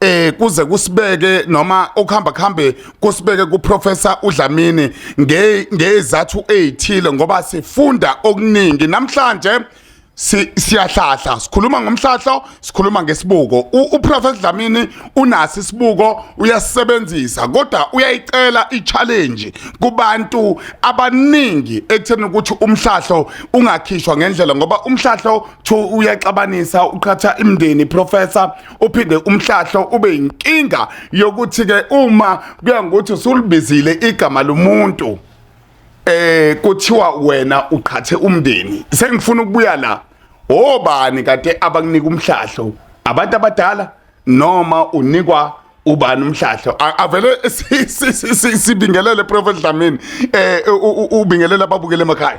eh kuze kusibeke noma okuhamba kuhambe kusibeke kuprofessor uDlamini nge ngezathu ezithile ngoba sifunda okuningi namhlanje siyahlahla sikhuluma ngomhlahlo sikhuluma ngesibuko uprofessor Dlamini unasi isibuko uyasebenzisa kodwa uyayicela ichallenge kubantu abaningi ekutheni ukuthi umhlahlo ungakhishwa ngendlela ngoba umhlahlo uyaxabanisa uqhatha imndeni professor uphinde umhlahlo ube inkinga yokuthi ke uma kuya ngokuthi usulibizile igama lomuntu eh kuthiwa wena uqhathe umndeni sengifuna ukubuya la obani kade abakunika umhlahlo abantu abadala noma unikwa ubani umhlahlo avele sibingelele prophet Dlamini eh ubingelela ababukele emakhaya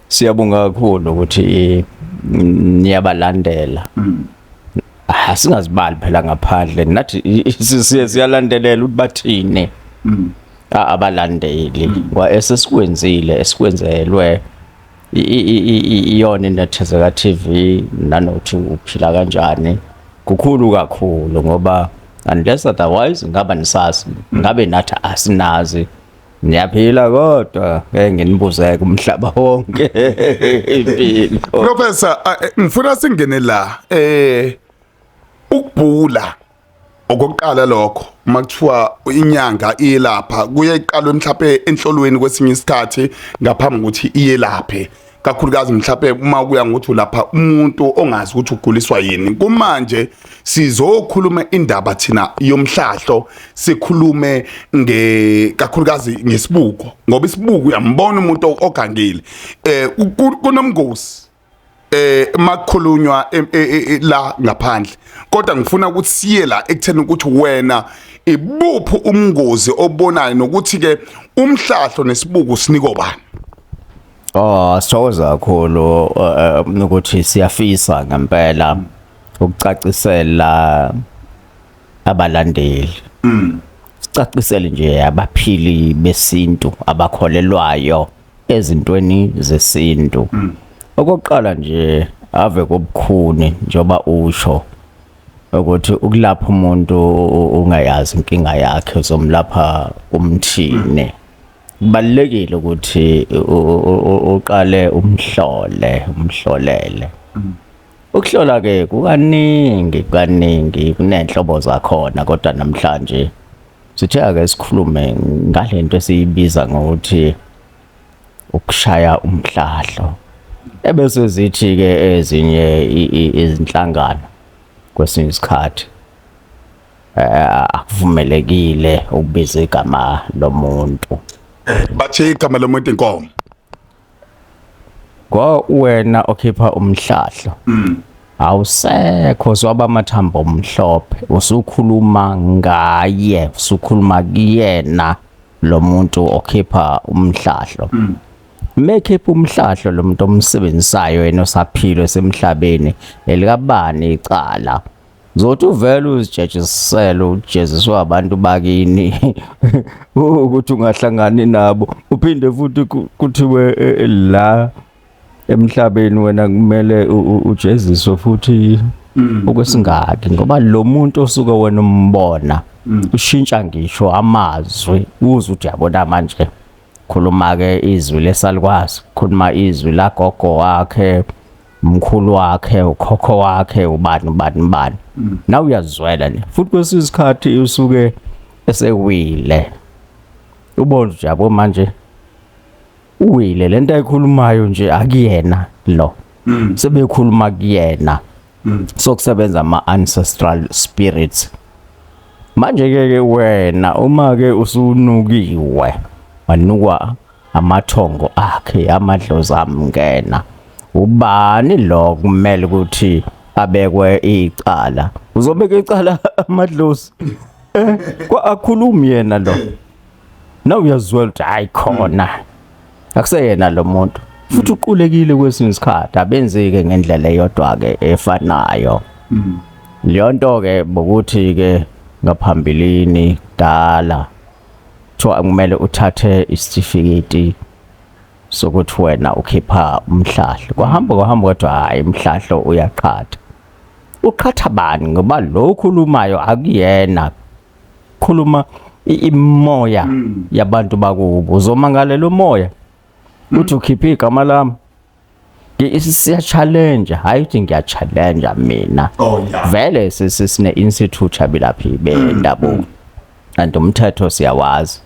Siyabonga kakhulu ukuthi niyabalandela. Mm. Ah singazibali phela ngaphandle nathi siye siyalandelela ukuthi bathini. Mm. abalandeli mm. kwa esesikwenzile esikwenzelwe iyona inethezeka TV nanothi uphila kanjani kukhulu kakhulu ngoba unless otherwise ngaba nisazi ngabe nathi asinazi Niyaphila kodwa ngeke nginibuze kumhlaba wonke impilo. Professor a- eh, ngifuna singene la eh ukubhula okokuqala lokho uma kuthiwa inyanga iyelapha kuye iqalwe mhlawumbe enhlolweni kwesinye isikhathi ngaphambi kokuthi iyelaphe kakhulukazi mhlawumbe uma kuya ngokuthi ulapha umuntu ongazi ukuthi uguliswa yini kumanje sizokhuluma indaba thina yomhlahlo sikhulume nge kakhulukazi ngesibuko ngoba isibuko uyambona umuntu ogangile eh kunomngozi eh makukhulunywa e, e, e, la ngaphandle kodwa ngifuna ukuthi siye la ekutheni ukuthi wena ibuphi umngozi obonayo nokuthi ke umhlahlo nesibuku siniko bani Oh sithokoza kakhulu uh, uh, ukuthi siyafisa ngempela ukucacisela abalandeli. Mm. Sicacisele nje abaphili besintu abakholelwayo ezintweni zesintu. Mm. Okokuqala nje ave kobukhuni njoba usho ukuthi ukulapha umuntu ungayazi inkinga yakhe uzomlapha umthine. Mm. kubalulekile ukuthi uqale umhlole umhlolele mm. ukuhlola ke kukaningi kaningi kunenhlobo zakhona kodwa namhlanje sithe ake sikhulume ngalento esiyibiza ngokuthi ukushaya umhlahlo ebese zithi ke ezinye izinhlangano kwesinye isikhathi Eh, akuvumelekile ukubiza igama lomuntu bathe igama lomuntu inkomo kwa wena okhipha umhlahlo mm. awusekho zwaba amathambo omhlophe usukhuluma ngaye usukhuluma kuyena lo muntu okhipha umhlahlo mm. mekhipha umhlahlo lo muntu omsebenzisayo yena osaphilo semhlabeni elikabani icala Zothi uvele uzijejisele ujeziswa abantu bakini ukuthi ungahlangani nabo uphinde futhi kuthiwe e, e, la emhlabeni wena kumele ujeziswe futhi mm. okwesingaki ngoba lo muntu osuke wena umbona mm. ushintsha ngisho amazwi uze uthi yabona manje khuluma ke izwi lesalukwazi khuluma izwi lagogo wakhe mkhulu wakhe ukhokho wakhe ubani ubani ubani mm. nawe uyazizwela nje futhi kwesinye isikhathi usuke esewile ubona nje yabo manje uwile lento ayikhulumayo nje akuyena lo mm. sebekhuluma kuyena mm. sokusebenza ama ancestral spirits manje ke wena uma ke usunukiwe wanukwa amathongo akhe amadlozi amngena ubani lo kumele ukuthi abekwe icala uzobeka icala amadlozi eh, kwa akhulumi yena lo na uyazwela ukuthi hayi khona akuseyena lo muntu futhi uqulekile kwesinye isikhathi abenzike ngendlela eyodwa ke efanayo mm. leyo nto ke bokuthi ke ngaphambilini dala Kuthiwa kumele uthathe isitifiketi sokuthi wena ukhipha umhlahlo. Kwahamba kwahamba kodwa hhayi umhlahlo uyaqhatha. Uqhatha bani ngoba lo ukhulumayo akuyena. Khuluma i- imimoya yabantu bakubo. Uzomangalela umoya. Uthi ukhiphe igama lami. siyachalenja hayi ukuthi ngiyachalenja mina oh, vele sine institute yabilaphi bendabuko mm, mm. and umthetho siyawazi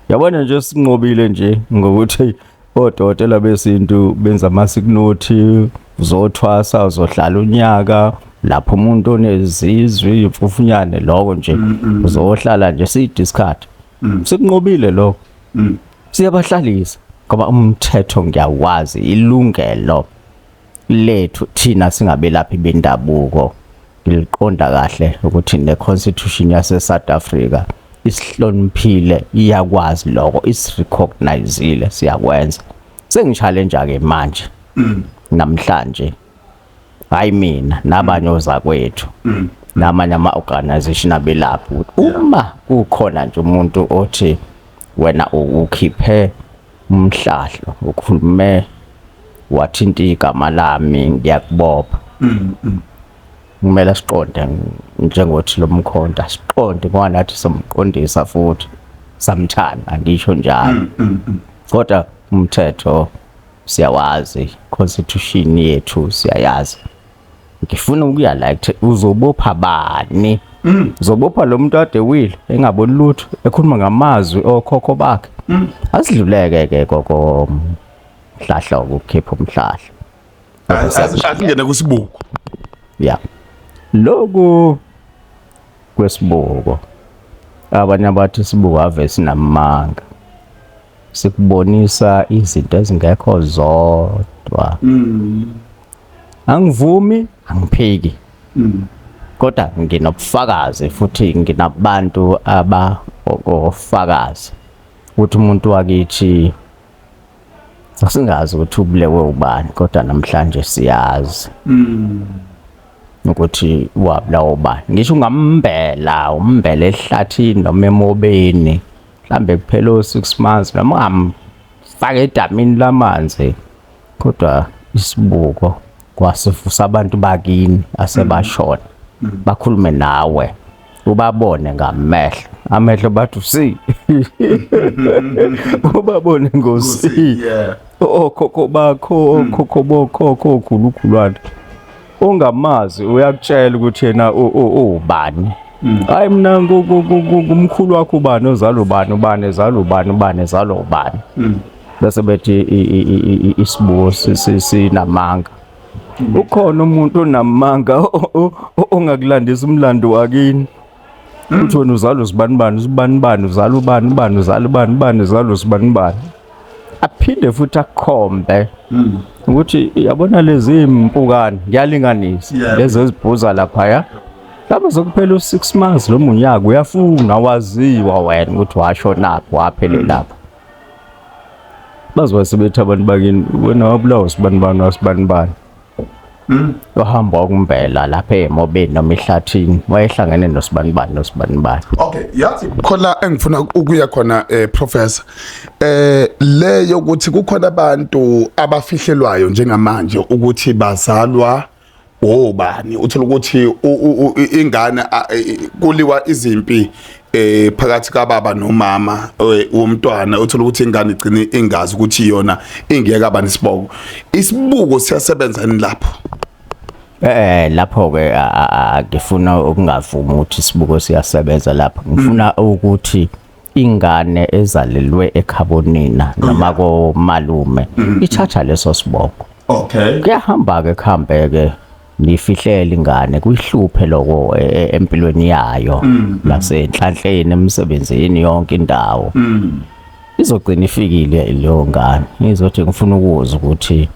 yabona nje sinqobile nje ngokuthi odokotela besintu benza amasikunothi uzothwasa uzohlala unyaka lapho umuntu onezizwi imfufunyane lokho nje mm, uzohlala nje siyi discard mm. sekunqobile lokho mm. siyabahlalisa ngoba umthetho ngiyawazi ilungelo lethu thina singabelaphi bendabuko ngiliqonda kahle ukuthi ne constitution yase South Africa isihloniphile iyakwazi lokho isirecognizile siyakwenza sengishale nje ke manje mm. namhlanje hayi mina nabanye ozakwethu mm. namanye ama-organization abelaphi ukuthi uma kukhona nje umuntu othi wena ukhiphe umhlahlo ukhulume wathinta igama lami ngiyakubopha mm, mm. kumele siqonde njengothi lo mkhonta siqonde ngoba nathi somqondisa futhi samthanda ngisho njalo kodwa umthetho siyawazi constitution yethu siyayazi ngifuna ukuya la uzobopha bani mm. uzobopha lo muntu ade will engaboni lutho ekhuluma ngamazwi okhokho bakhe mm. asidluleke ke koko mhlahla ukukhipha umhlahla asingene kusibuko ya loku kwesibuko abanye abathi sibuko ave sinamanga sikubonisa izinto ezingekho zodwa mm. angivumi angiphiki mm. kodwa nginobufakazi futhi nginabantu abafakazi ukuthi umuntu wakithi sasingazi ukuthi ubulewe ubani kodwa namhlanje siyazi mm. ukuthi wabulawa ubani ngisho ungambela umbela ehlathini noma emobeni mhlambe kuphela o-six months noma ungamfaka edamini lamanzi kodwa isibuko kwasivusa abantu bakini asebashona bakhulume nawe ubabone ngamehlo amehlo bathi usi ubabone ngosi Yeah. okhokho bakho okhokho bokhokho okhulukhulwana ongamazi uyakutshela ukuthi yena ubani hmm. hayi mina kumkhulu wakho ubani ozala ubani ubani ezala ubani ubani ezala ubani hmm. bese bethi isibuko sinamanga hmm. ukhona umuntu onamanga ongakulandisa umlando wakini Hmm. Uthi wena uzalwa usibani bani, usibani bani, uzalwa ubani bani, uzalwa ubani bani, uzalwa usibani bani. Aphinde futhi akhombe. Hmm. Ukuthi yabona lezi impukane ngiyalinganisa lezi ezibhuza lapha ya. Lapho zokuphela u6 months lo munyaka uyafuna waziwa wena ukuthi washo naphi waphelelapha. bazoba sebethi abantu bakini wena wabulawa sibani bani wasibani bani Mm. Wahamba wakumbela lapha emobeni noma ehlathini wayehlangene nosibanibani nosibanibani. Okay, yathi khona engifuna ukuya khona eh professor. Eh le yokuthi kukhona abantu abafihlelwayo njengamanje ukuthi bazalwa obani uthola ukuthi ingane kuliwa izimpi eh phakathi kababa nomama eh, womntwana uthola ukuthi ingane igcine ingazi ukuthi yona ingeke abani isiboko isibuko siyasebenza ni lapho eh lapho ke ngifuna ukungavumi ukuthi isibuko siyasebenza lapho ngifuna hmm. ukuthi ingane ezalelwe ekhabonina noma hmm. komalume hmm. ithatha leso siboko okay kuyahamba ke kuhambeke nifihlele ingane kuyihluphe lokho e, e, empilweni yayo mm, mm. nasenhlanhleni emsebenzini yonke indawo mm. izogcina ifikile leyo ngane izothi ngifuna ukuza ukuthi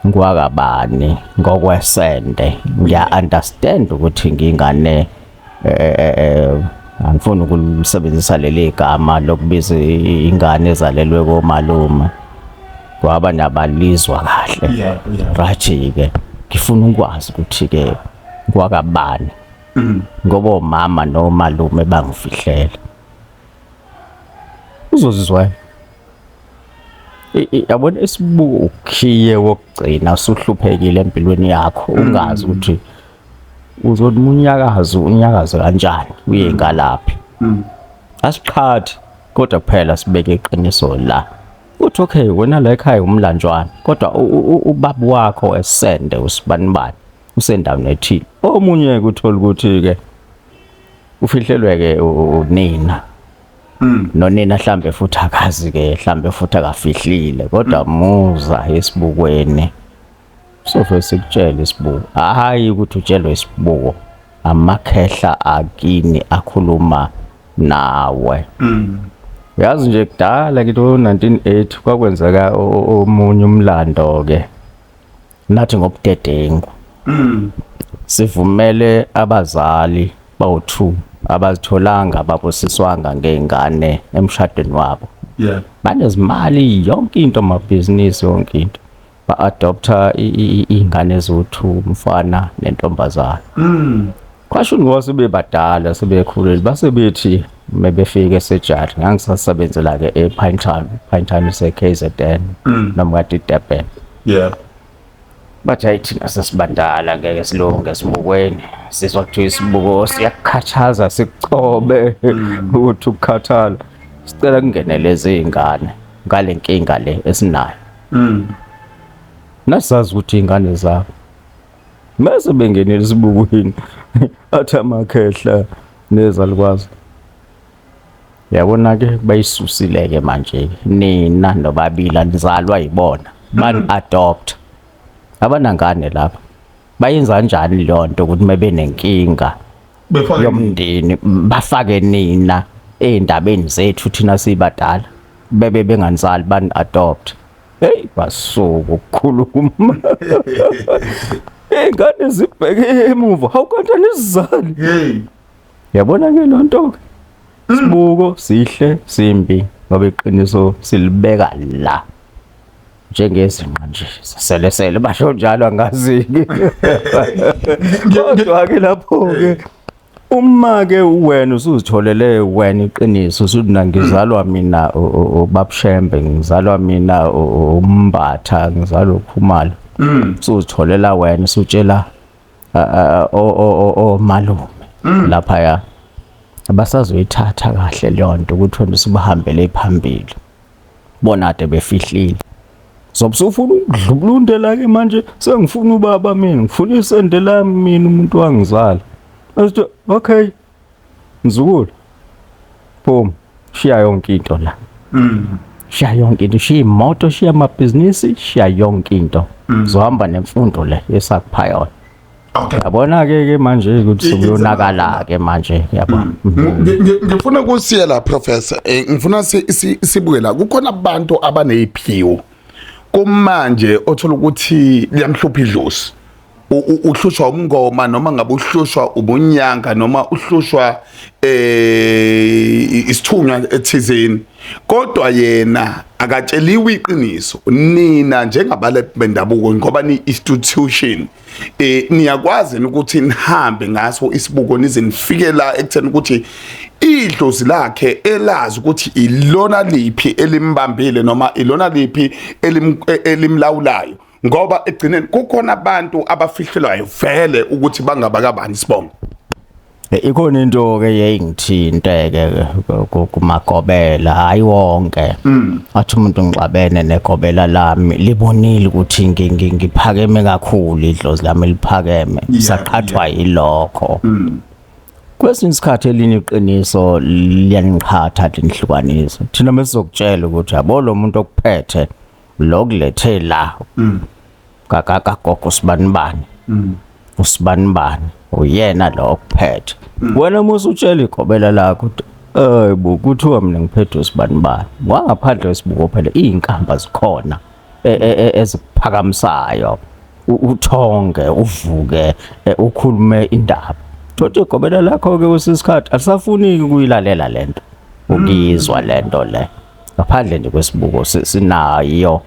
ngiwakabani ngokwesende ngiya understand ukuthi ngingane eh, eh, eh, angifuni ukulisebenzisa leli gama lokubiza ingane ezalelwe komalume kwaba nabalizwa kahle right-ke ngifuna ukwazi ukuthi-ke kwakabani mm. ngoba omama nomalume bangifihlela uzozizwayo yabona isibuko ukhiye wokugcina usuhluphekile empilweni yakho mm. ungazi ukuthi uzothi unyakazo unyakazo kanjani uye ngalaphi mm. asiqhathi kodwa kuphela sibeke iqiniso la uthi okay wena la ekhaya umlanjwana kodwa ubaba wakho esende usibanibani usendaweni ethile omunye kuthola ukuthi ke ufihlelwe ke unina Mm. nonina hlambe futhi akazi ke hlambe futhi akafihlile kodwa mm. muza esibukweni Sofe sikutshele isibuko. Hayi ukuthi utshelwe isibuko. Amakhehla akini akhuluma nawe. Mm. Yazi nje kudala kithi 1980 kwakwenzeka omunye umlando ke. Nathi ngobudedengu. Mm. Sivumele abazali bawu2 abazitholanga babusiswanga ngeingane emshadweni wabo. Yeah. Banezimali yonke into amabhizinisi yonke into. ba-adoptha iy'ngane eziwu-two umfana nentombazana mm. kwasho ngoba sebebadala sebekhulile base bethi uma befika esejari ngangisasebenzela-ke e-pine town pine town ise-k z n mm. noma kade idurban yeah bathi hayi thina sesibadala ngeke silunge esibukweni sizwa kuthiwa isibuko siyakukhathaza sikucobe mm. ukuthi ukukhathala sicela kungenele izingane ngale nkinga le esinayo Mm. Nasazi ukuthi ingane zabo. Mase bengenele sibukwini. Athi amakhehla nezalukwazi. Yabona ke bayisusile ke manje nina nobabila nizalwa yibona. Ban mm. adopt. Abanangane lapha. Bayenza kanjani leyo nto ukuthi mabenenkinga? befake yomndeni bafake nina eindabeni zethu thina sibadala bebe bengansali ban adopt hey basuku ukukhuluma ingane zibheke emuva how kanti anizizali hey yabona ke lonto ke hmm. sibuko sihle simbi ngoba iqiniso silibeka la njengezinqa nje selesele basho njalo angaziki kodwa ke lapho ke uma ke wena usuzitholele wena iqiniso usuthi nangizalwa mina ubabushembe ngizalwa mina umbatha ngizalwa ukhumalo mm. usuzitholela wena usutshela o malume mm. lapha ya abasazoyithatha kahle leyo nto ukuthi wena usubahambele phambili bona ade befihlile Zobe usufuna ukudlubulundela ke manje sengifuna ubaba mina ngifuna isende lami mina umuntu wangizala. Asithi okay mzukulu boom shiya yonke into la. Mm. Shiya yonke into shiya imoto shiya amabhizinisi shiya yonke into. Mm. Zohamba nemfundo le yesakuphayona. yabona ke ke manje ukuthi sekuyonakala ke manje yabona mm. ngifuna kusiye la professor eh, ngifuna sibuke la kukhona abantu abaneziphiwo kumanje othola ukuthi liyamhlupha idlozi uhlushwa umngoma noma ngabe uhlushwa ubunyanga noma uhlushwa eh isithunywa ethizeni kodwa yena akatsheliwe iqiniso nina njengabale bendabuko ngoba ni institution eh niyakwazi ukuthi nihambe ngaso isibuko nize nifike la ekutheni ukuthi idlozi lakhe elazi ukuthi ilona liphi elimbambile noma ilona liphi e-, elimlawulayo ngoba egcineni kukhona abantu abafihlelwayo vele ukuthi bangabakabani sibongo Eh, ikhona into ke yayingithinteke kumagobela hayi wonke mm. athi umuntu ngixabene negobela lami libonile ukuthi ngiphakeme kakhulu idlozi lami liphakeme saqhathwa yilokho mm. kwesinye isikhathi elinye iqiniso liyangiqhatha linihlukanise thina mesizokutshela ukuthi yabo lo muntu okuphethe lo kulethe la mm. kakagogo sibanibani mm. usibanibani uyena lo okuphethe mm. wena musa utshela igobela lakho eh bo kuthiwa mina ngiphethe usibanibani wangaphandle wesibuko phela izinkamba zikhona e, e, e, eziphakamisayo uthonge uvuke ukhulume indaba thothi igobela lakho ke usisikhathi alisafuniki kuyilalela lento ukuyizwa lento le ngaphandle nje kwesibuko sinayo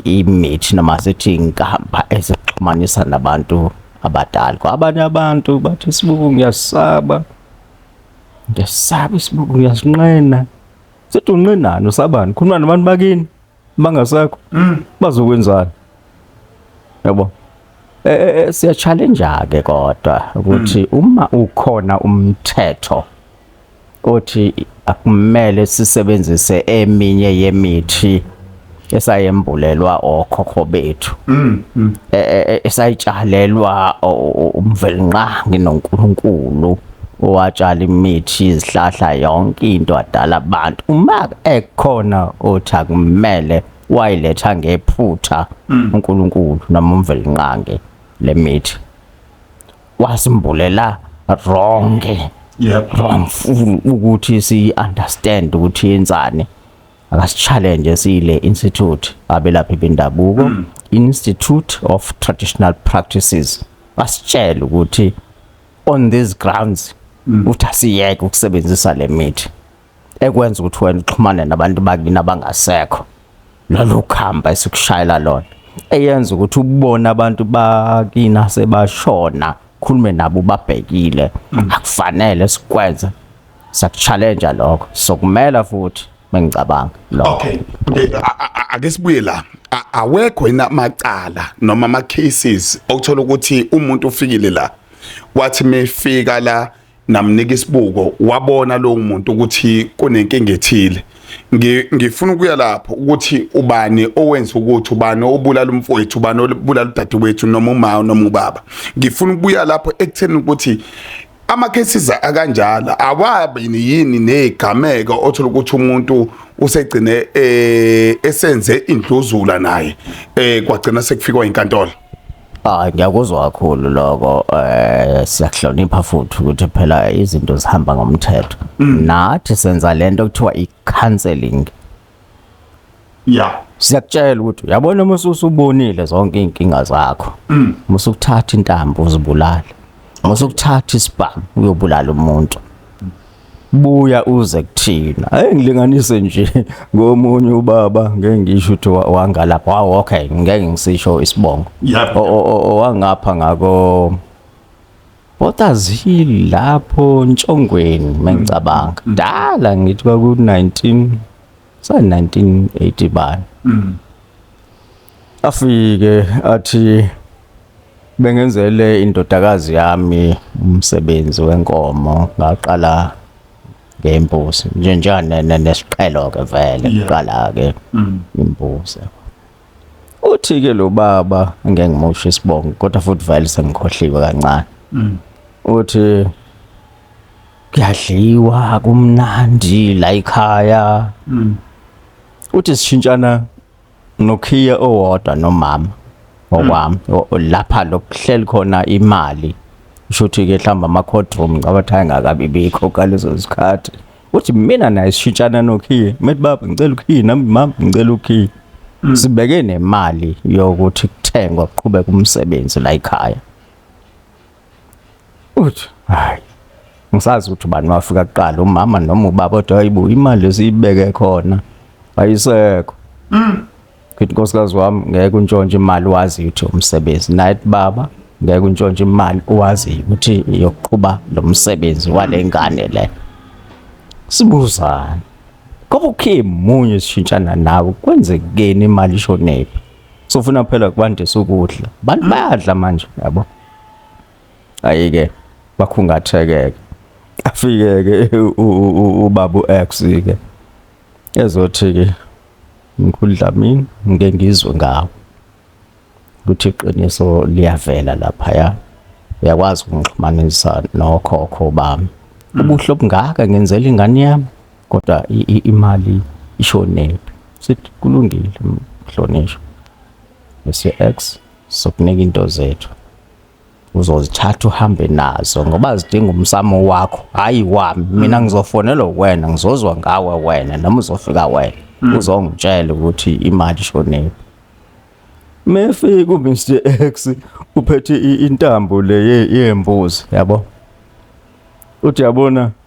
imithi noma sithi inkamba esixhumanisa nabantu abadala kwabanye abantu bathi isibuku ngiyasaba ngiyasaba isibuku ngiyasinqena sithi unqenani usabani khuluma nabantu bakini bangasekho mm. bazokwenzani yabo eh, eh, eh siya challenge ke kodwa ukuthi mm. uma ukhona umthetho othi akumele sisebenzise eminye yemithi esayembulelwa okhokho bethu mm, mm. E, e, e, esayitshalelwa umvelinqangi noNkulunkulu watshala imithi izihlahla yonke into adala abantu uma ekhona othi akumele wayiletha ngephutha mm. uNkulunkulu noma umvelinqange lemithi wasimbulela wrong yep wrong full ukuthi si understand ukuthi yenzani akasichallenge sile institute abelaphi bendabuko mm. institute of traditional practices basitshela ukuthi on these grounds mm. uthi asiyeke ukusebenzisa le mithi ekwenza ukuthi wena uxhumane nabantu bakini abangasekho lolu khamba esikushayela lona eyenza ukuthi ubone abantu bakina sebashona khulume nabo babhekile mm. akufanele sikwenze sakuchallenge lokho sokumela futhi mengicabanga lokho okay eh, ake sibuye la awekho yena macala noma ama cases okuthola ukuthi umuntu ufikile la wathi mefika la namnika isibuko wabona lo muntu ukuthi kunenkinga ethile ngifuna ukuya lapho ukuthi ubani owenza ukuthi ubani obulala umfowethu ubani obulala udadewethu noma uma noma ubaba ngifuna ukuya lapho ekutheni ukuthi ama-cases akanjalo awabi yini ney'gameko othola ukuthi umuntu usegcine um esenze indluzula naye um kwagcina sekufikwa inkantolo hayi ngiyakuzwa kakhulu lokho um siyakuhlonipha futhi ukuthi phela izinto zihamba ngomthetho mm. nathi senza le nto kuthiwa i-counseling ya siyakutshela ukuthi uyabona uma usubonile zonke iy'nkinga zakho mm. uma usukuthatha intambo uzibulale uma usukuthatha isibhamu uyobulala umuntu buya uze kuthina hey ngilinganise nje ngomunye ubaba ngeke ngisho ukuthi wangalapha wow okay ngeke ngisisho isibongo owangapha ngako Botazi lapho Ntshongweni mengicabanga. Mm. Dala ngithi kwaku 19 sa 1980 bani. Mm. Afike athi bengenzele indodakazi yami umsebenzi wenkomo ngaqala ngembuzi njenjani nesiqhelo ke vele kuqala ke mm. imbuzi. Uthi-ke lo baba ngeke ngimusho isibongo kodwa futhi vele sengikhohliwe kancane. Mm. Uthi kuyadliwa kumnandi la ekhaya. Mm. Uthi sishintshana nokhiya owodwa nomama ngokwami mm. lapha lokuhleli khona imali. Usho ukuthi-ke mhlawumbe ama-courtroom ngicabanga ukuthi ayengakabi bikho ngalezo zikhathi. uthi mina naye sishintshana nokhiye methi baba ngicela ukhiye nami mama ngicela ukhiye mm. sibeke nemali yokuthi kuthengwa kuqhubeka umsebenzi la ekhaya uthi hayi ngisazi ukuthi ubani wafika kuqala umama noma ubaba kodwa hayibo imali esiyibeke khona ayisekho mm. ngithi nkosikazi wami ngeke untshontshe imali wazi ukuthi umsebenzi naye baba ngeke untshontshe imali wazi ukuthi iyoqhuba lo msebenzi wale ngane le sibuzane ngoba ukhe munye sishintshana nawe kwenzekeni imali ishonephi sofuna phela kubandisa ukudla abantu bayadla manje yabo ayike bakhungathekeke afike ke ubaba uX ke ezothi ke Mkhulu Dlamini ngike ngizwe ngawo ukuthi iqiniso liyavela laphaya uyakwazi ukungixhumanisa nokhokho bami mm. ubuhle obungaka ngenzela ingane yami kodwa imali ishonephi sithi kulungile mhlonishwa bese-x sokunika into zethu uzozithatha uhambe nazo ngoba zidinga umsamo wakho hayi wami mina mm. ngizofonela wena ngizozwa ngawe wena noma uzofika wena mm. uzongitshela ukuthi imali shonephi mefika uMr X uphethe intambo le yembuzi yabo uthi yabona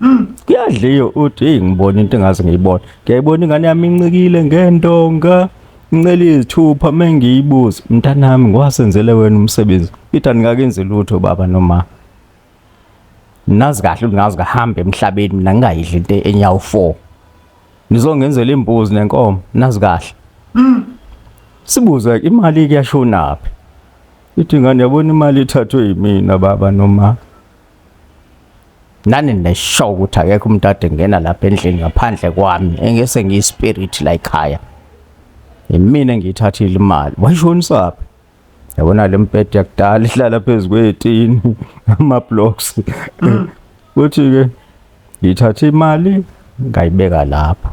Mm, kuyadliwa uthi hey ngibona into engazi ngiyibona. Ngiyayibona ingane yami incikile ngendonga. Incela izithupha mengiyibuza. Mntanami ngwasenzele wena umsebenzi. Peter nikakenzi lutho baba noma. Nazi kahle ngazi kahambe emhlabeni mina ngingayidli into enyawo 4. Nizongenzela imbuzi nenkomo nazi kahle. Mm. Sibuza imali kuyashonaphi? Ithi ngane yabona imali ithathwe yimina baba noma. nani nesho ukuthi akekho umuntu ade ngena lapha endlini ngaphandle kwami engese ngiyispirit la ekhaya yimina engiyithathile imali wayishonisaphi yabona le mpede yakudala ihlala phezu kweyetini ama-blocks kuthi-ke ngithathe imali ngayibeka lapho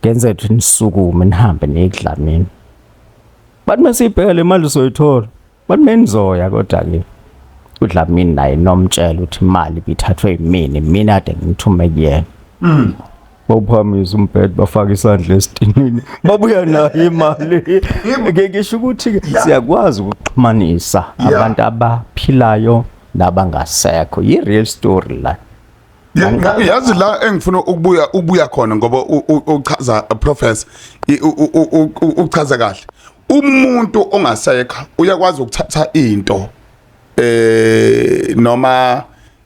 ngenze ukuthi nisukume nihambe niyekudlamini bathi uma siyibheka le mali soyithola But menizoya kodwa ke uDlamini naye nomtshela ukuthi imali bithathwe yimini mina ade ngithume kuyena. Mm. bawuphakamisa umbhedo bafake isandla esitinini babuya nayo imali ngeke ngisho ukuthi-ke siyakwazi ukuxhumanisa abantu abaphilayo nabangasekho yi-real story la yazi la engifuna ukubuya ubuya khona ngoba uchaza professor uchaza kahle umuntu ongasekho uyakwazi ukuthatha into eh noma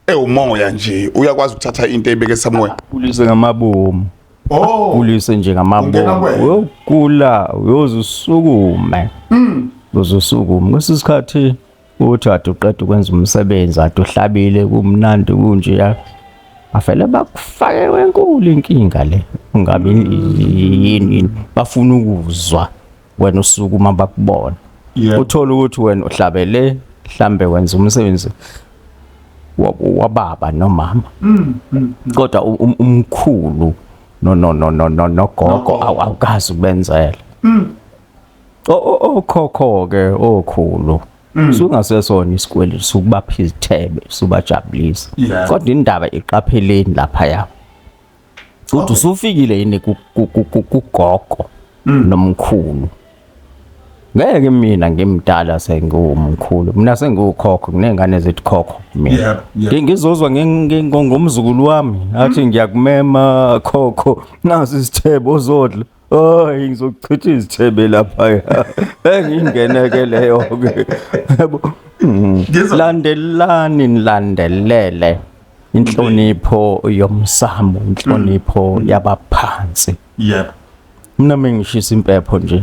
ewumoya nje uyakwazi ukuthatha into ebeke samoya kulise ngamabomu oh kulise nje ngamabomu uyogula uyozusukume mm uzosukume kwesikhathi uthi wade uqeda ukwenza umsebenzi wade uhlabile kumnandi kunjeya bavele bakufake wenkulu inkinga le ungabe yini yini bafuna ukuzwa wena usuku uma bakubona uthola ukuthi wena uhlabele mhlambe wenza umsebenzi wababa nomama mm, mm, mm. kodwa um, umkhulu no no no no no nogogo awukazi ukubenzela okhokho-ke okhulu mm. sungasesona isikweletu sukubapha izithebe subajabulisa kodwa indaba iqapheleni laphaya ukuthi usufikile yini kugogo mm. nomkhulu ngeke mina ngimdala sengiwumkhulu mina sengiwukhokho kunengane zethi khokho mina ngizozwa ngomzukulu wami athi ngiyakumema khokho nazi isithebo uzodla Hayi ngizochitha izithebe lapha ya. Engingeneke leyo ke. Yabo. Mm. Ngizwa- Landelani nilandelele inhlonipho yomsamo, inhlonipho yabaphansi. yebo Mina mengishisa impepho nje.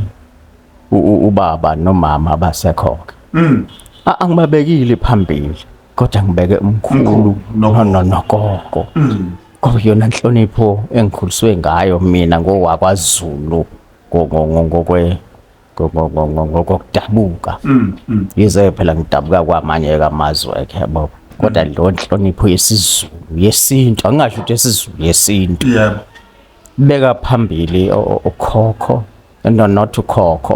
u- u- Ubaba nomama abasekhoke. Mm. A- Angibabekile phambili kodwa ngibeke umkhulu Umkhulu, nogogo. no- no- nogogo. Mm. Oh yona nhlonipho engikhuliswe ngayo mina ngowakwaZulu ngokwe ngokokudabuka mm, mm. yize phela ngidabuka kwamanye kamazwe ke yabo kodwa mm. lo nhlonipho yesizulu yesintu angingasho ukuthi yesizulu yesintu yebo beka phambili okhokho no not ukhokho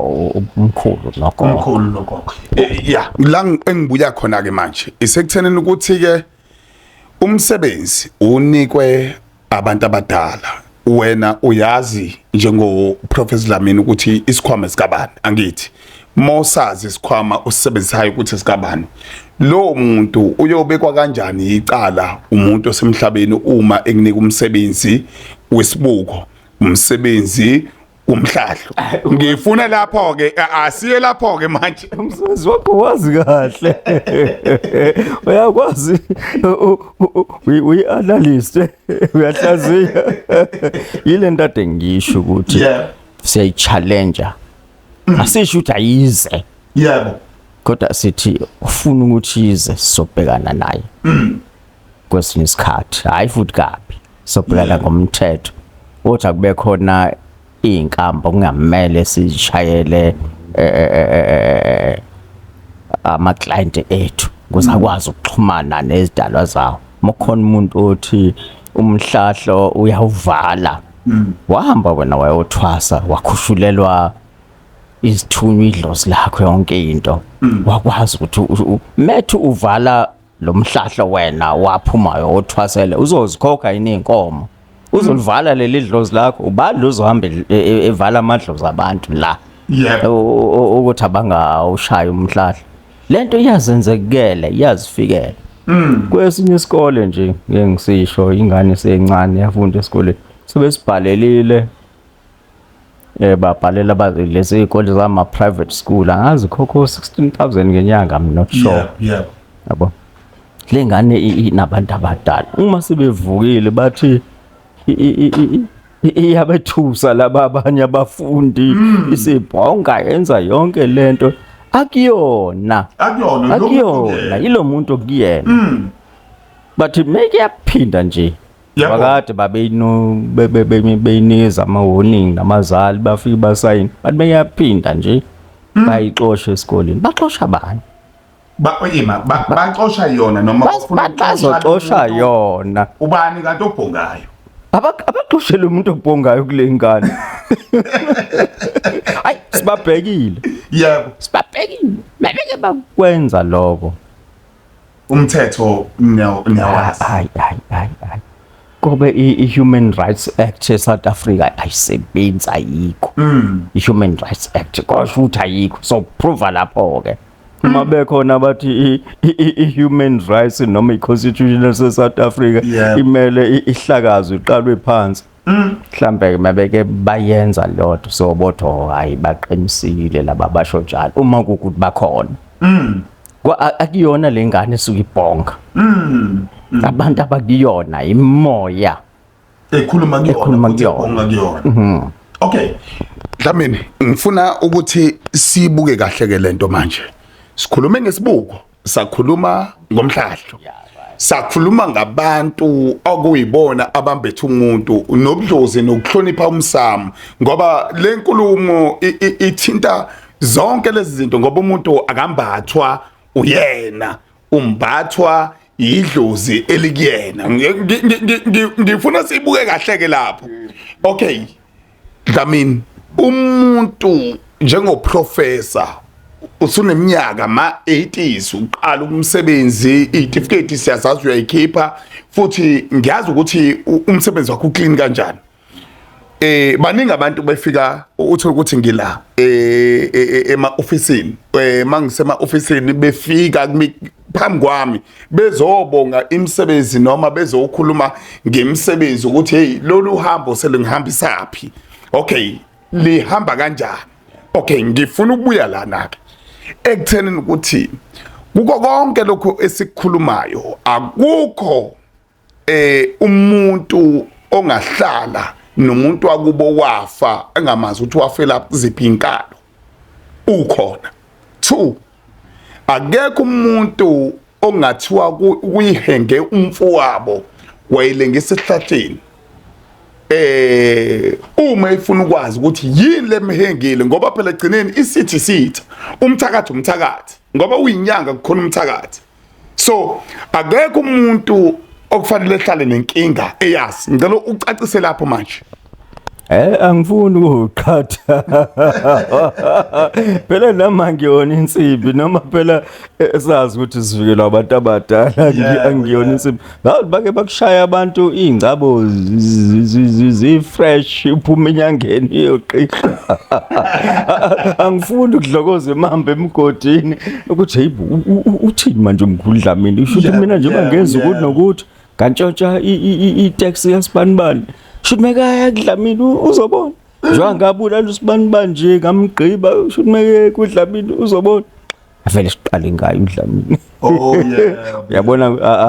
umkhulu nokhokho umkhulu nokhokho eh, yeah la engibuya khona ke manje isekuthenini ukuthi ke umsebenzi unikwe abantu abadala wena uyazi njengo Professor Dlamini ukuthi isikhwama sikabani angithi mosazi isikhwama usisebenzisayo ukuthi sikabani lo muntu uyobekwa kanjani icala umuntu osemhlabeni uma ekunika umsebenzi wesibuko umsebenzi umhlahlo ngifuna lapho ke asiye lapho ke manje umsebenzi wakho wazi kahle uyakwazi uyi analyst uyahlaziya yile nto ade ngisho ukuthi siyayi challenge mm. asisho ukuthi ayize yebo kodwa sithi ufuna ukuthi ize sizobhekana naye mm. kwesinye isikhathi hayi futhi kabi sobhekana ngomthetho uthi akube khona izinkamba kungamele sishayele eh, eh, eh, ama client ethu ukuze akwazi ukuxhumana nezidalwa zawo mokhona umuntu othi umhlahlo uyawuvala mm. wahamba wena wayothwasa wakhushulelwa izithunywa idlozi lakho yonke into mm. wakwazi ukuthi methu uvala lo mhlahlo wena waphumayo othwasele uzozikhokha yini inkomo uzolivala leli dlozi lakho ubani uzohamba e- e- evala amadlozi abantu la yebo U- u- ukuthi abangawushayi umhlahla lento iyazenzekela iyazifikela kwesinye isikole nje ngeke ngisisho ingane sencane yafunda esikoleni sebesibhalelile eh babhalela ba lezi izikole zama private school angazi khokho 16000 ngenyanga i'm not sure yeah, yeah. yabo lengane inabantu abadala uma sebevukile bathi iyabethusa laba abanye abafundi hmm. isibhonga yenza yonke lento akuyona akuyona akuyona yilomuntu kuyena hmm. bathi make yaphinda nje bakade babeyinikeza ama-warning nabazali bafike basayini bathi beyaphinda nje hmm. bayixoshe esikoleni baxosha bani baima baxosha yona noma bazoxosha yona ubani kanti obhongayo abaxoshele umuntu obhongayo kule ngane hayi sibabhekile yebo sibabhekile bebeke bakwenza lokho umthetho niyawazi hayi hayi hayi hayi kobe i-human rights act e-south africa ayisebenzi ayikho mm. i-human rights act kosho ukuthi ayikho so prova lapho-ke uma mm. bekhona abathi i-human rights noma i-constitution se-south africa imele ihlakazwe iqalwe phansi Mm. mhlambe ke mabeke bayenza lodwa so botho hayi baqinisile laba basho njalo uma ukuthi bakhona mm akuyona lengane esuke ibhonga mm. mm abantu abakuyona imoya ekhuluma kuyona ekhuluma kuyona mhm. okay Dlamini ngifuna ukuthi sibuke kahle ke lento manje sikhulume ngesibuko sakhuluma ngomhlahlo sakhuluma ngabantu okuyibona abambethe umuntu nobudlozi nokuhlonipha umsamo ngoba le nkulumo ithinta zonke lezi zinto ngoba umuntu akambathwa uyena umbathwa yidlozi elikuyena ngifuna sibuke kahle ke lapho okay Dlamini umuntu njengoprofessor usuneminyaka ma 80s uqala umsebenzi itifiketi siyazazi uyayikhipha futhi ngiyazi ukuthi umsebenzi wakho uclean kanjani eh baningi abantu befika uthi ukuthi ngila eh, eh, eh ema officeini eh mangisema officeini befika phambi kwami bezobonga imisebenzi noma bezokhuluma ngemisebenzi ukuthi hey lolu hambo selungihambisa phi okay lihamba kanjani okay ngifuna ukubuya lana ke ekuthenini ukuthi kuko konke lokho esikhulumayo akukho eh umuntu ongahlala nomuntu wakubo wafa engamazi ukuthi wafela kuziphi inkalo ukhona two akekho umuntu ongathiwa kuyihenge umfowabo wayelengisa esihlahleni eh uma ifuna ukwazi ukuthi yini lemhengile ngoba phela egcineni isithi sitha umthakathi umthakathi ngoba uyinyanga kukhona umthakathi so akekho umuntu okufanele ehlale nenkinga eyazi ngicela ucacise lapho manje Eh angifuni ukuqhatha. Phela noma ngiyona insimbi noma phela eh, sazi ukuthi sivikelwa abantu abadala ngiyona insimbi. Ngathi bake bakushaya abantu iy'ngcabo zi-fresh uphuma enyangeni iyoqisha. Angifuni ukudlokoza imamba emgodini ukuthi heyi uthini manje umkhulu Dlamini usho ukuthi mina njengoba ngenza ukuthi nokuthi ngantshontsha i-tax yasibanibani sho ukuthi mekaya kudlamini uzobona njengoba ngabulala usibanibani nje ngamgqiba sho ukuthi meke kudlamini uzobona avele siqale ngayo udlamini oh yeah uyabona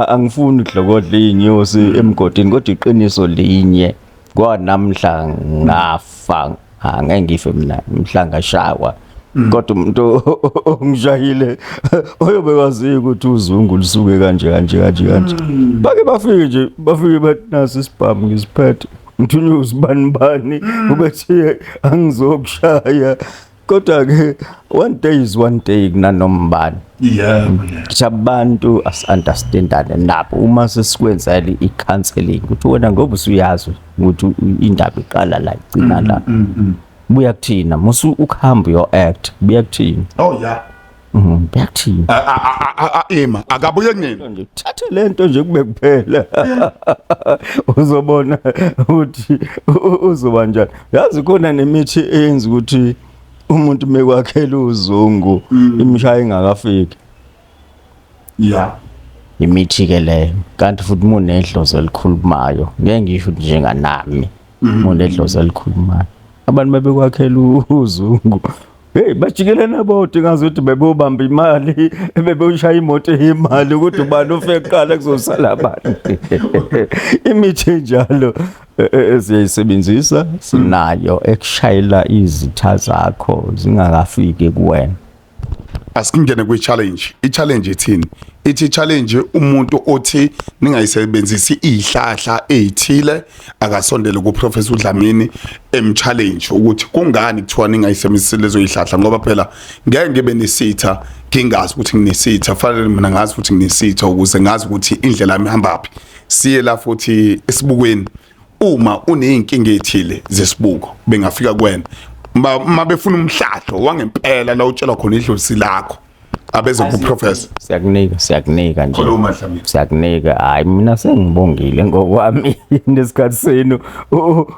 angifuni udlokodla inyosi mm. emgodini kodwa iqiniso linye kwanamhla ngafa angeke ngife mina mhlanga shawa mm. kodwa umuntu ongishayile oyobe waziyo ukuthi uzungu lisuke kanje kanje kanje kanje mm. bake bafike nje bafike bathi nasi isibhamu ngisiphethe ngithunywe usibani bani ubethe angizokushaya kodwa ke one day is one day kunanombani yeah siyabantu asunderstandane nabo uma sesikwenzela i-counseling ukuthi wena ngoba usuyazi ukuthi indaba iqala la igcina mm, la mm, mm, buya kuthina musu ukuhamba uyo act buya kuthina oh yeah Mhm, Ngiyakuthini? A- a- a- a- a- Ima akabuye nini? Nje thathe lento nje kube kuphela. Uzobona ukuthi u- u- uzoba njani. Yazi khona nemithi eyenza ukuthi umuntu mekwakhela uzungu imishaya ingakafiki. Yeah. Imithi ke leyo. Kanti futhi munedlozi elikhulumayo. Ngeke ngisho ukuthi njenganami. umuntu edlozi alikhulumayo abantu babekwakhela uzungu Hey bajikelana bodwa ngazi ukuthi bebobamba imali bebewushaya imoto yemali ukuthi ubani ufe kuqala kuzosala abantu imithi enjalo e, e, e, siyayisebenzisa sinayo ekushayela izitha zakho zingakafiki kuwena asikungene kwi-challenge i-challenge ithini ithi challenge umuntu othi ningayisebenzisi izihlahla ezithile akasondele ku professor uDlamini em challenge ukuthi kungani kuthiwa ningayisebenzisi lezo zihlahla ngoba phela ngeke ngibe nesitha ngingazi ukuthi nginesitha fanele mina ngazi ukuthi nginesitha ukuze ngazi ukuthi indlela yami ihamba phi siye la futhi esibukweni uma uneyinkinga ethile zesibuko bengafika kwena uma befuna umhlahlo wangempela la utshelwa khona idlozi lakho abeze ku professor siyakunika siyakunika nje siyakunika hayi mina sengibongile ngokwami nesikhathi senu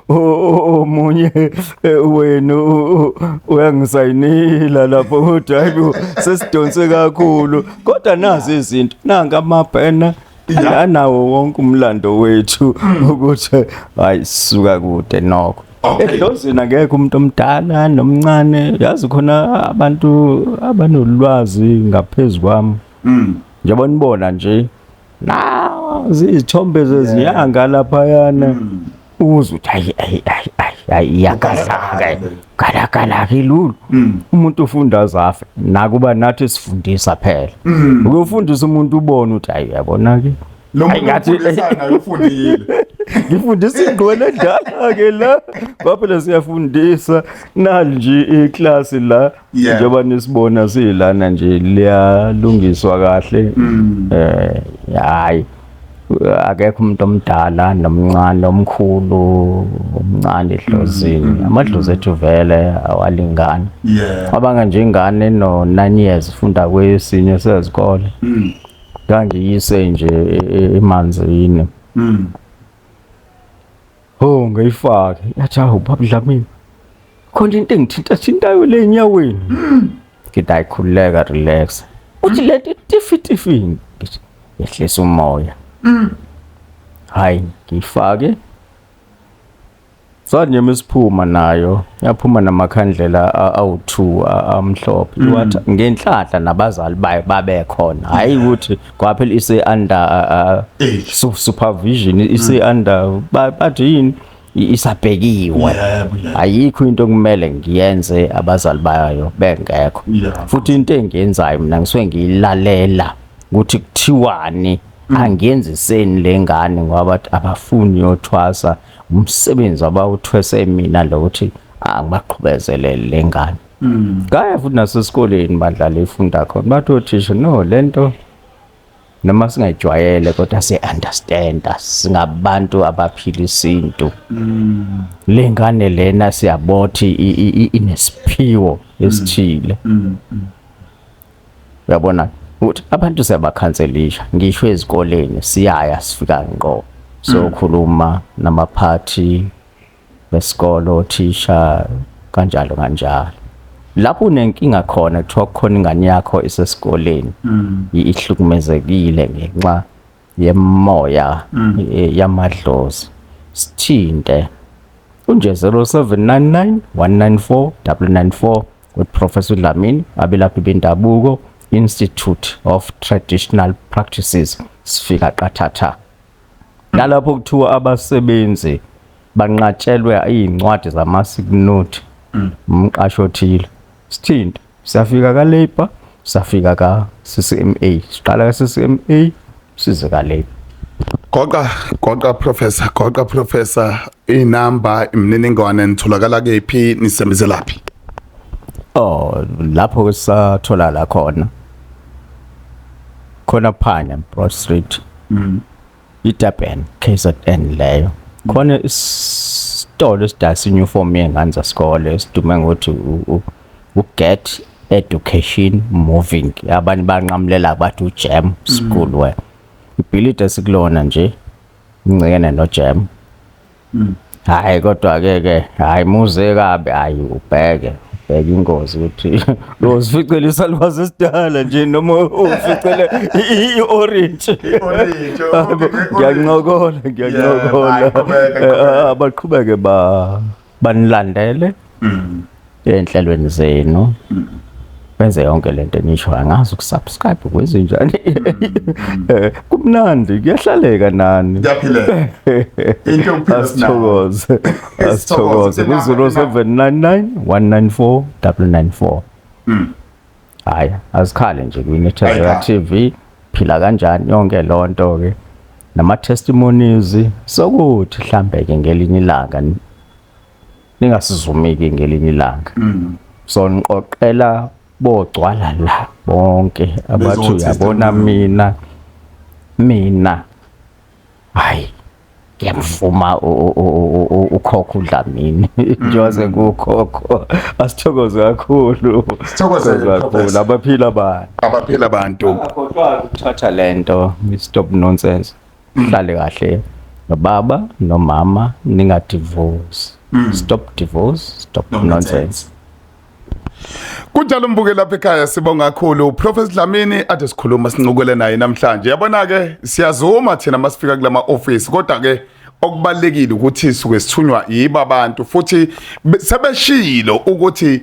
omunye e, wenu uyangisayinila lapho kodwa hayi sesidonse kakhulu kodwa nazi izinto nanga amabhena anawo wonke umlando wethu hmm. ukuthi hayi suka kude nokho edlozini akekho umuntu omdala nomncane yazi khona abantu abanolwazi ngaphezu kwami hmm. njengoba nibona nje na zizithombe zezinyanga laphayana hmm. uzwe ukuthi ayi ayi ayi ayi ayi iyakazaka kalakala akilulu mm. umuntu ufunda zafe nakuba nathi sifundisa phela mm. ukufundisa umuntu ubone ukuthi ayi uyabona ke lo muntu ufundisa naye ufundile ngifundisa ingqwele edala ke la baphela siyafundisa nali nje iclass la yeah. njengoba nisibona silana nje liyalungiswa kahle mm. eh hayi akekho umuntu omdala nomncane omkhulu omncane edlozini mm, mm, amadlozi mm. ethu vele awalingani abanga nje ingane no 9 years funda kwesinye sezikole ngangiyise nje e, e, emanzini Oh ngayifake. Yathi awu baba Dlamini. Khona into engithinta thintayo le enyaweni. Ngithi ayikhululeka relax. Uthi lento tifi tifi. Ngithi yehlisa umoya. Hayi ngiyifake. Sanyema isiphuma nayo. Yaphuma namakhandlela a- awu2 a- amhlophe. Wathi ngenhlanhla nabazali bayo babekhona. Hayi ukuthi ngoba phela ise under uh, uh, su- supervision ise under ba- bathi yini I- isabhekiwe Yebo, yebo. ayikho into okumele ngiyenze abazali bayo bengekho Yeah. futhi into engiyenzayo mina ngisuke ngiyilalela ukuthi kuthiwani angiyenziseni le ngane ngoba bathi abafuni yothwasa umsebenzi abawuthwese mina lo ukuthi angibaqhubezelele le ngane Mm. Kaya futhi nasesikoleni badlala ifunda khona. Bathi othisha no lento noma singayijwayele kodwa siye understand singabantu abaphila isintu. Mm. Lengane lena siyabothi inesiphiwo mm. esithile. Mm. Mm. Uyabona ukuthi abantu siyabakhanselisha ngisho ezikoleni siyaya sifika ngqo sokhuluma namaphathi besikole othisha kanjalo kanjalo lapho unenkinga khona kuthiwa kukhona ingane yakho isesikoleni mm. ihlukumezekile ngenxa yemoya mm. e, yamadlozi sithinte unje 0799 194 994 with Professor Dlamini abelaphi bendabuko Institute of Traditional Practices sifika qathatha nalapho kuthiwa abasebenzi banqatshelwe iy'ncwadi zamasignuthi mm. umqashi othile sithinta siyafika ka-labour safika ka-ccma siqala ka-ccma size ka-labour goqa goqa professor goqa professor inamba imininingwane nitholakala kephi nisembizelaphi oh lapho ke sathola la khona khona phana Broad Street mm. iDurban KZN leyo khona isitolo esidayisa uniform yengane zasikole esidume ngokuthi uGet Education Moving abanye banqamulela bathi uJam mm. School we ibhilidi esikulona nje incekene noJam mm. hayi kodwa ke ke hayi muze kabi hayi ubheke ubheke ingozi ukuthi uzificela isalwazi esidala nje noma uzificele i-orange ngiyancokola ngiyancokola eh, abaqhubeke ba banilandele mm. enhlelweni zenu mm. benze yonke lento enisho angazi ukusubscribe kwezinjani eh, kumnandi kuyahlaleka nani kuyaphileka into yokuphila sithokoze asithokoze ku 0799 194 994 hayi azikhale nje kwi Nethezeka TV phila kanjani yonke lonto ke nama testimonies sokuthi mhlambe ke ngelinye ilanga ningasizumiki ngelinye ilanga mm. so niqoqela bogcwala la bonke abathi uyabona mina mina hayi ngiyamvuma ukhokho uDlamini njengoze mm. kukhokho asithokoze kakhulu sithokoze kakhulu abaphila abantu abaphila abantu akhohlwa ukuthatha lento stop nonsense uhlale kahle nobaba nomama ningadivorce mm. stop divorce stop no nonsense Kunjalo mbuke lapha ekhaya sibonga kakhulu Professor Dlamini ade sikhuluma sincukele naye namhlanje yabona ke siyazuma thina masifika kulama office kodwa ke okubalekile ukuthi suke sithunywa yiba abantu futhi sebeshilo ukuthi